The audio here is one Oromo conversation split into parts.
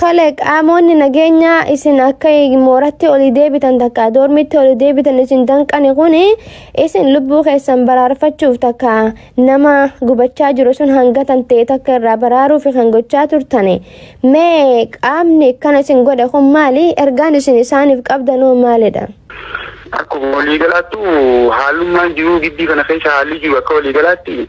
Tole qaamoonni nageenyaa isin akka mooratti olii deebitan takka doormiitti olii deebitan isin danqani kun isin lubbuu keessan baraarfachuuf takka nama gubachaa jiru sun hanga tantee takka irraa baraaruuf kan gochaa turtani mee qaamni akkana isin godhe kun maali ergaan isin isaaniif qabdanoo maalidha? Akkuma waliigalaattu haalummaan jiruu giddii kana keessa haalli jiru akka waliigalaatti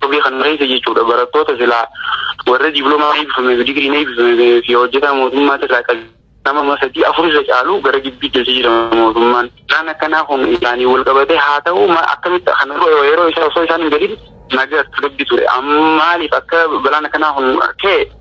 Toge kan mareese jechuudha barattoota silaa warra diiplomaa eebbifame fi digiriin eebbifame fi hojjetaa mootummaa irraa kan nama amma sadii afur irra caalu gara gibbii galchee jira mootummaan. Isaan akkanaa kun isaanii wal qabatee haa ta'u ma- akkamitti kan yeroo isaa osoo isaan hin galin nagaa tasgabbii ture. Amma maaliif akka balaan akkanaa kun ka'e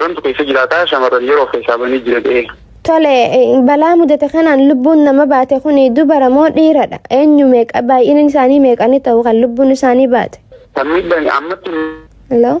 Rantu keessa jiraataa shamarran yeroo keessaa banii jira ta'ee. Tole balaa mudate kanaan lubbuun nama baate kun dubara moo dhiiradha? Eenyu meeqa baay'inni isaanii meeqani ta'u kan lubbuun isaanii baate? Kan miidhaan ammatti Hello?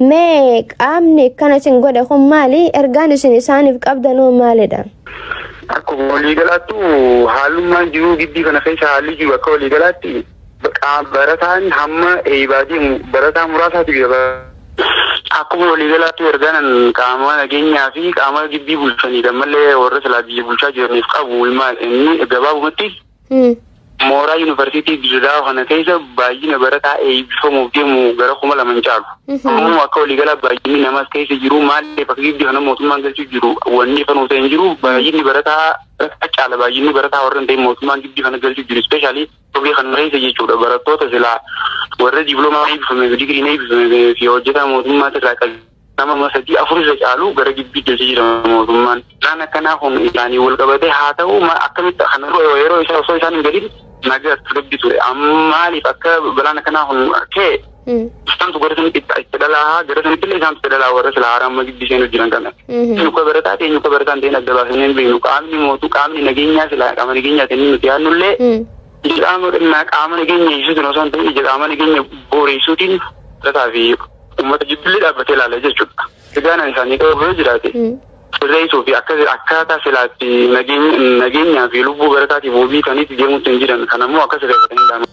Mee qaamni akkana isin godhe kun maali? Ergaan isin isaaniif qabdanoo maalidha? Akkuma waliigalaattu haalummaan jiruu gibbii kana keessa haalli jiru akka waliigalaatti barataan hamma eeybaa deemu barataa muraasaati bira akkuma waliigalaatti ergaanan qaama nageenyaa fi qaama gibbii bulchaniidha malee warra silaa biyya bulchaa jiraniif qabu ilmaan inni gabaabumatti Mooraa Yuunivarsiitii Dirreedawaa kana keessa baay'ina barataa eebbifamuuf deemu gara kuma lama hin caalu. Ammoo akka waliigalaa baay'inni namaas keessa jiru maaliif akka gibbii kana mootummaan galchuu jiru wanni ifa nuuf ta'e hin jiru. Baay'inni barataa barataa caala baay'inni barataa warra hin ta'in mootummaan gibbii kana galchuu jiru ispeeshaalii torbee kana keessa jechuudha barattoota silaa warra diiploomaa eebbifame digiriin eebbifame fi hojjetaa mootummaati irraa qabu. Nama sadii afur irra caalu gara gibbii keessa jira mootummaan. Isaan akkanaa kun isaanii wal qabatee haa ta'u akkamitti kan yeroo isaa osoo isaan hin gadiin nagaa tasgabbii ture. Maaliif akka balaan akkanaa kun ka'e isaantu gara sanitti itti dhalaa gara sanitti illee isaantu itti dhalaa warra sila haaraa amma gibbii seenuu jiran kana. Eenyu akka barataa ta'e eenyu akka barataa hin ta'in adda baasanii hin beeknu qaamni mootu qaamni nageenyaa sila qaama nageenyaa ta'e nuti yaadnu illee Ija qaama xinnaa qaama nageenya eegsisuutiin osoo hin ta'in ija qaama nageenya booreessuutiin lataa fi uummata jibbillee dhaabbatee ilaala jechuudha. Egaan ani isaanii qabu yoo jiraate sirreessuu fi akka akkaataa silaatti nageenyaa fi lubbuu barataatiif wabii ta'aniitti deemuutti hin jiran kan ammoo akka sirreeffatan hin daanu.